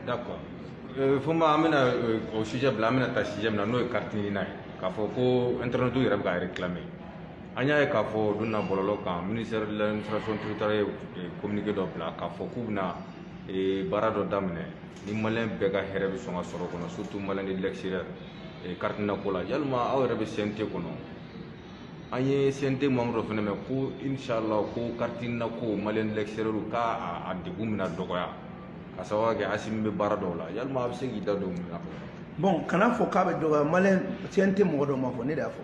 d'accord euh, fonba an bɛna euh, o sujet bila an bɛna ta sujet min na n'o ye carte nina ye k'a fɔ ko internet yɛrɛ bɛ ka réclamer an y'a ye k'a fɔ o don na bɔlɔlɔ kan ministère de l'administration territoriale ye euh, communiqué dɔ bila k'a fɔ k'u bɛna baara dɔ daminɛ ni maliyɛn bɛɛ ka hɛrɛ bɛ sɔn ka sɔrɔ kɔnɔ surtout maliyɛn de l'extérieur carte nina ko la yalima aw yɛrɛ bɛ CNT kɔnɔ an ye CNT membre dɔ fɛnɛ mɛn ko inchallah ko carte nina ko maliyɛn de l'extérieur k'a degun bɛna dɔgɔya ka sababu kɛ asimi bɛ baara dɔw la yalima a bɛ se k'i da don mun na bɔn kana fɔ k'a bɛ dɔgɔya maliyɛn CNT mɔgɔ dɔ m'a fɔ ne de y'a fɔ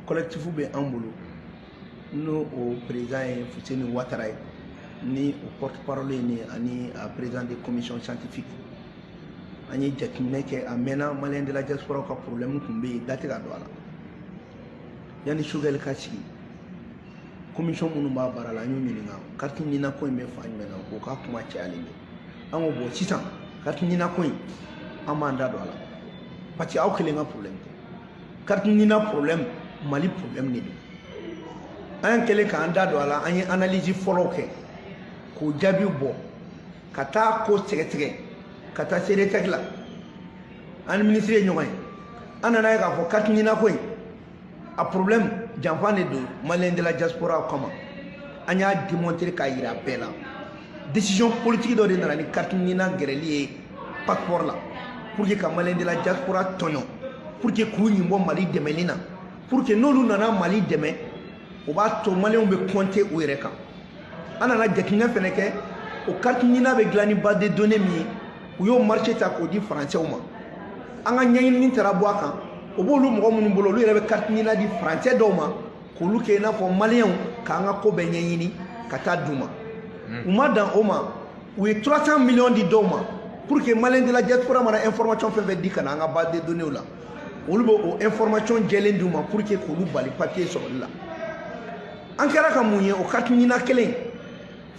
kɔlɛkitifu bɛ an bolo n'o o président ye fuseni watara ye ni o porte parole ye ne ye ani a président de commission scientifique an ye jateminɛ kɛ a mɛnna maliyɛn de la diaspora ka problème tun bɛ yen da tɛ ka don a la yanni choguel ka sigi komisɔn minnu b'a baara la an y'u ɲininka kariti nina ko in bɛ fan jumɛn na k'o ka kuma cayalen bɛ an ko bɔn sisan kariti nina ko in an b'an da don a la parce que aw kelen ka problème tɛ kariti nina problème mali problème de don an kɛlen k'an da don a la an ye analyse fɔlɔw kɛ k'o jaabiw bɔ ka taa k'o sɛgɛsɛgɛ ka taa CDTEC la an ni minisiri ye ɲɔgɔn ye an nana ye k'a fɔ kariti nina ko in a problème janfa de don maliyɛn de la diaspora kama an y'a démontrer k'a yira bɛɛ la décision politique dɔ de nana ni kariti nina gɛrɛli ye passeport la pour que ka maliyɛn de la diaspora tɔɲɔ pour que k'u ɲin bɔ mali dɛmɛni na pour que n'olu nana mali dɛmɛ o b'a to maliyɛnw bɛ compter u yɛrɛ kan an nana jateminɛ fɛnɛ kɛ o kariti nina bɛ dilan ni base de données min ye u y'o marché ta k'o di faransɛw ma an ka ɲɛɲinini taara bɔ a kan o b'olu mɔgɔ minnu bolo olu yɛrɛ bɛ carte nina di faransɛ dɔw ma k'olu kɛ i n'a fɔ maliyɛnw k'an ka ko bɛɛ ɲɛɲini ka taa d'u ma u ma dan o ma u ye 300 miliyɔn di dɔw ma pour que maliyɛn de la diaspora mana information fɛn fɛn di ka na an ka base de données la olu bɛ o information jɛlen d'u ma pour que k'olu bali papier sɔrɔli la an kɛra ka mun ye o carte nina kelen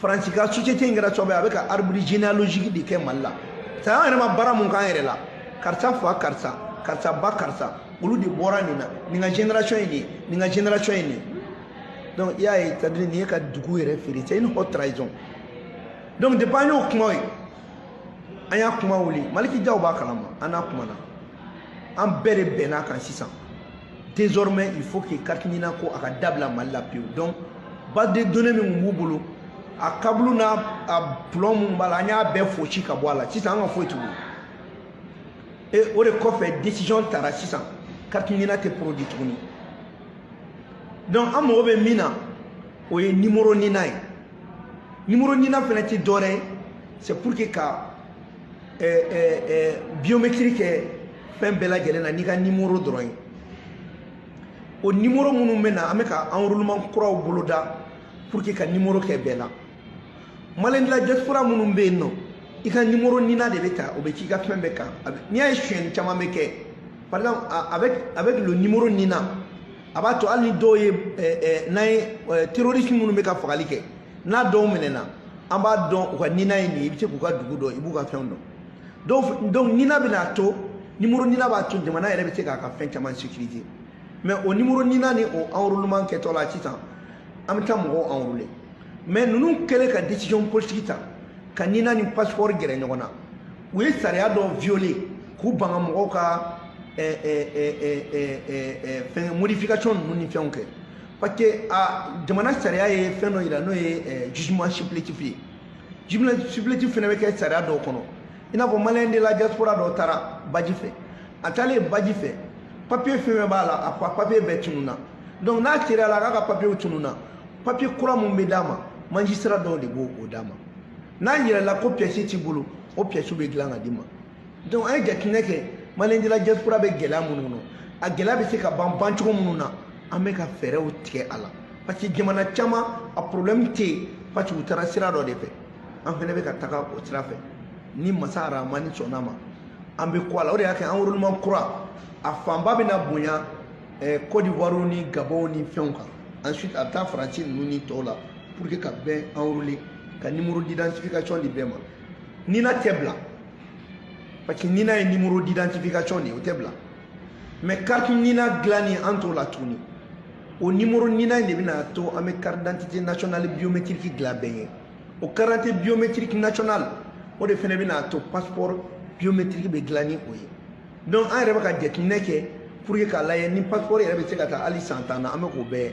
faransi ka société in kɛra sababu ye a bɛ ka arbre généalogique de kɛ mali la sa an yɛrɛ ma baara min k'an yɛrɛ la karisa fa karisa karisa ba karisa olu de bɔra nin na nin ka génération ye nin ye nin ka génération ye nin ye donc i y'a ye c'est à dire nin ye ka dugu yɛrɛ feere c'est une haute trahison donc depuis an y'o kuma ye an y'a kuma wuli maliki jaw b'a kalama an n'a kumana an bɛɛ de bɛnna kan sisan désormais il faut que carte nina ko a ka dabila mali la pewu donc base de données min tun b'u bolo a kabulu n'a a plɔn minnu b'a la an y'a bɛɛ fosi ka bɔ a la sisan an ka foyi t'u kun et o de kɔfɛ décision tara sisan carte nina tɛ produit tuguni donc an mago bɛ min na o ye nimoro nina ye nimoro nina fana tɛ dɔwɛrɛ ye c'est pour que ka biométrie kɛ fɛn bɛɛ lajɛlen na n'i ka nimoro dɔrɔn ye o nimoro minnu bɛ na an bɛ ka enrôlement kuraw boloda pour que ka nimoro kɛ bɛɛ la maliyɛn de la diaspora minnu bɛ yen nɔ i ka nimoro nina de bɛ ta o bɛ k'i ka fɛn bɛɛ kan n'i y'a ye sonyɛni caman bɛ kɛ par exemple avec avec le nimoro nina a b'a to hali ni dɔw ye n'an ye terroriste minnu bɛ ka fagali kɛ n'a dɔw minɛna an b'a dɔn u ka nina ye nin ye i bɛ se k'u ka dugu dɔn i b'u ka fɛnw dɔn donc nina bɛna to nimoro nina b'a to jamana yɛrɛ bɛ se k'a ka fɛn caman sécuriser mais o nimoro nina ni o enrôlement kɛtɔ la sisan an bɛ taa mɔgɔw enrôler mais ninnu kɛlen ka décision politique ta ka nina ni passeport gɛrɛ ɲɔgɔn na u ye sariya dɔ violer k'u banga mɔgɔw ka fɛn modification ninnu ni fɛnw kɛ parce que a jamana sariya ye fɛn dɔ yira n'o ye eh, jugement supplétif ye jugement supplétif fana bɛ kɛ sariya dɔw kɔnɔ i n'a fɔ maliyɛn de la diaspora dɔ taara baji fɛ a taalen baji fɛ papiye fɛn fɛn b'a la a ko a papiye bɛɛ tununna donc n'a seereyala k'a ka papiyew tununna papiye kura min bɛ d'a ma magistrat dɔw de b'o d'a ma n'a yirala ko piyɛsi t'i bolo o piyɛsiw bɛ dilan ka d'i ma donc an ye jateminɛ kɛ maliyɛn de la diaspora bɛ gɛlɛya minnu kɔnɔ a gɛlɛya bɛ se ka ban bancogo minnu na an bɛ ka fɛɛrɛw tigɛ a la parce que jamana caman a problème tɛ yen parce que u taara sira dɔ de fɛ an fana bɛ ka taga o sira fɛ ni masa aramani sɔnna ma an bɛ kɔ a la o de y'a kɛ enrôlement kura a fanba bɛna bonya eh, Côte d'Ivoire ni Gabon ni fɛnw kan ensuite a bɛ taa Faransi ninnu ni tɔw la pour que ka bɛɛ enrôler ka numéro d'identification di bɛɛ ma nina tɛ bila parce que nina ye numéro d'identification de ye o tɛ bila mais carte nina dilanni an t'o la tuguni o numéro nina in de bɛna to an bɛ carte d'identité nationale biométrique dilan bɛɛ ye o carte d'identité biométrique nationale o de fana bɛna to passeport biométrique bɛ dilan ni o ye donc an yɛrɛ bɛ ka jateminɛ kɛ pour que k'a lajɛ ni passeport yɛrɛ bɛ se ka taa hali san tan na an bɛ k'o bɛɛ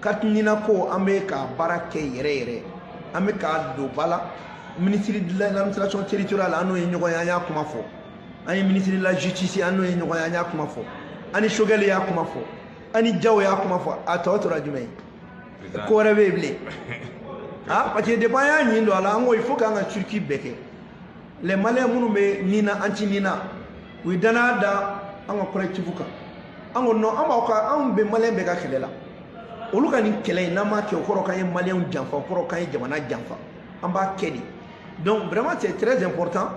carte nina ko an bɛ ka baara kɛ yɛrɛ yɛrɛ an bɛ k'a don ba la ministre de l'administration territoriale an n'o ye ɲɔgɔn ye an y'a kuma fɔ an ye ministre de la justice an n'o ye ɲɔgɔn ye an y'a kuma fɔ an ni Sogɛli y'a kuma fɔ an ni Jaw y'a kuma fɔ a tɔ tora jumɛn ye ko wɛrɛ bɛ yen bilen ah parce que depuis an y'a ɲin don a la an ko il faut k'an ka circuit bɛɛ kɛ les maliens minnu bɛ nina anti nina u ye danaya da an ka collectif kan an ko non an b'aw ka anw bɛ malien bɛɛ ka kɛlɛ la olu ka nin kɛlɛ in n'an m'a kɛ o kɔrɔ k'an ye maliyɛnw janfa o kɔrɔ k'an ye jamana janfa an b'a kɛ de donc vraiment c'est très important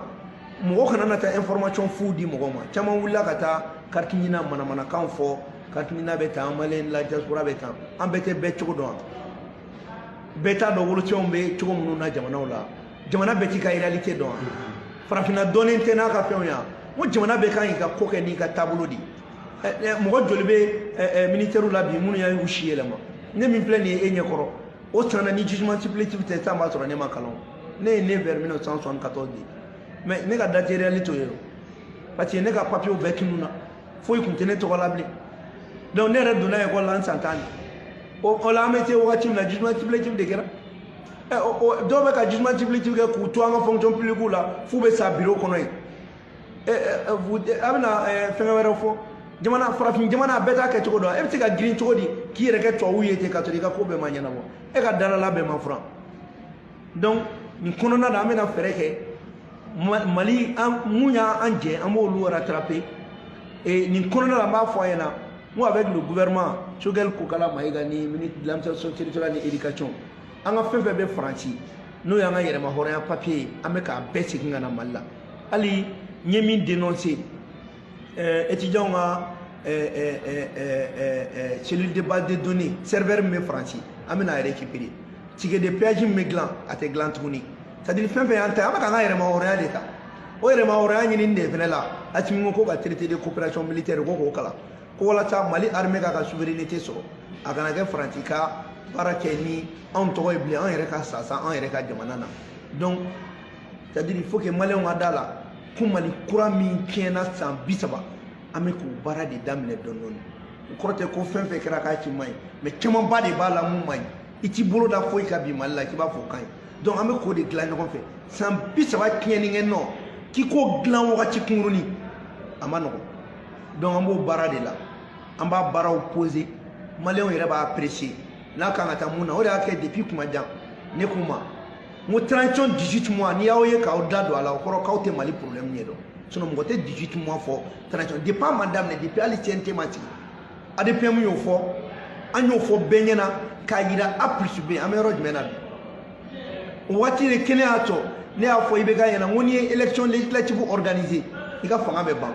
mɔgɔ kana na taa information fu di mɔgɔ ma caman wulila ka taa carte nina manamanakan fɔ carte nina bɛ tan maliyɛn la diaspora bɛ tan an bɛɛ tɛ bɛɛ cogo dɔn bɛɛ t'a dɔn wolosɛbɛnw bɛ cogo minnu na jamanaw la jamana bɛɛ k'i ka réalité dɔn wa farafinna dɔnnen tɛ n'a ka fɛnw ya n ko jamana bɛɛ kan k'i ka ko kɛ n'i ka taabolo de ye mɔgɔ joli bɛ ministɛriw la bi minnu y'u si yɛlɛma ne min filɛ nin ye e ɲɛ kɔrɔ o tana ni jugement supplétif tɛ san b'a sɔrɔ ne ma kalan ne ye né vers 1974 de mais ne ka date réelle t'o ye parce que ne ka papier bɛɛ tununna foyi tun tɛ ne tɔgɔ la bilen donc ne yɛrɛ donna école la n san tan de o la an bɛ se wagati min na jugement supplétif de kɛra Eh, dɔw bɛ ka jugement supplétif kɛ k'u to an ka fonction publique la f'u bɛ sa bureau kɔnɔ yen eh, eh, a bɛna fɛngɛ wɛrɛ fɔ jamana farafin jamana a bɛɛ t'a kɛ cogo dɔn e bɛ se ka girin cogo di k'i yɛrɛ kɛ tubabuw ye ten ka sɔrɔ i ka ko bɛɛ ma ɲɛnabɔ e ka dalala bɛɛ ma furan donc nin kɔnɔna na an bɛna fɛɛrɛ kɛ mali an mun y'an jɛ an b'olu rattraper nin kɔnɔna la an b'a fɔ a ɲɛna n ko avec le gouvernement Choguel Kokala Mayiga ni ministre de l'administration territoriale ni éducation an ka fɛn fɛn bɛ faransi n'o y'an ka yɛrɛma hɔrɔnya papiye ye an bɛ k'a bɛɛ segin ka na mali la hali n ye min dénoncer étudiants ka cellule de base de données serveur min bɛ faransi an bɛna a récupérer ticket de péage min bɛ dilan a tɛ dilan tuguni c'est à dire fɛn fɛn y'an ta ye an bɛ k'an ka yɛrɛma hɔrɔnya de ta o yɛrɛma hɔrɔnya ɲinini de fana la asimi ko ka traité de coopération militaire ko k'o kalan ko walasa mali armée k'a ka souveraineté sɔrɔ a kana kɛ faransi ka baara kɛ ni anw tɔgɔ ye bilen an yɛrɛ ka sasa an yɛrɛ ka jamana na donc c'est à dire il faut que maliyɛnw ka da la ko mali kura min tiɲɛna san bi saba an bɛ k'o baara de daminɛ dɔɔni dɔɔni o kɔrɔ tɛ ko fɛn fɛn kɛra k'a si man ɲi mais camanba de b'a la min man ɲi i t'i bolo da foyi kan bi mali la k'i b'a fɔ o ka ɲi donc an bɛ k'o de dilan ɲɔgɔn fɛ san bi saba tiɲɛni kɛ nɔ k'i k'o dilan wagati kunkurunin a ma nɔgɔn donc an b'o baara de la an b'a baaraw poser maliyɛnw yɛrɛ b'a apprécier n'a kan ka taa mun na o de y'a kɛ depuis tuma jan ne k'u ma n ko transition 18 mois n'i y'aw ye k'aw da don a la o kɔrɔ k'aw tɛ mali problème ɲɛ dɔn sinon mɔgɔ tɛ 18 mois fɔ transition depuis a ma daminɛ depuis hali cnt ma sigi adepm y'o fɔ an y'o fɔ bɛɛ ɲɛna k'a jira a plus b an bɛ yɔrɔ jumɛn na bi o waati de kelen y'a to ne y'a fɔ ibk ɲɛna n ko n'i ye élection législative organiser i ka fanga bɛ ban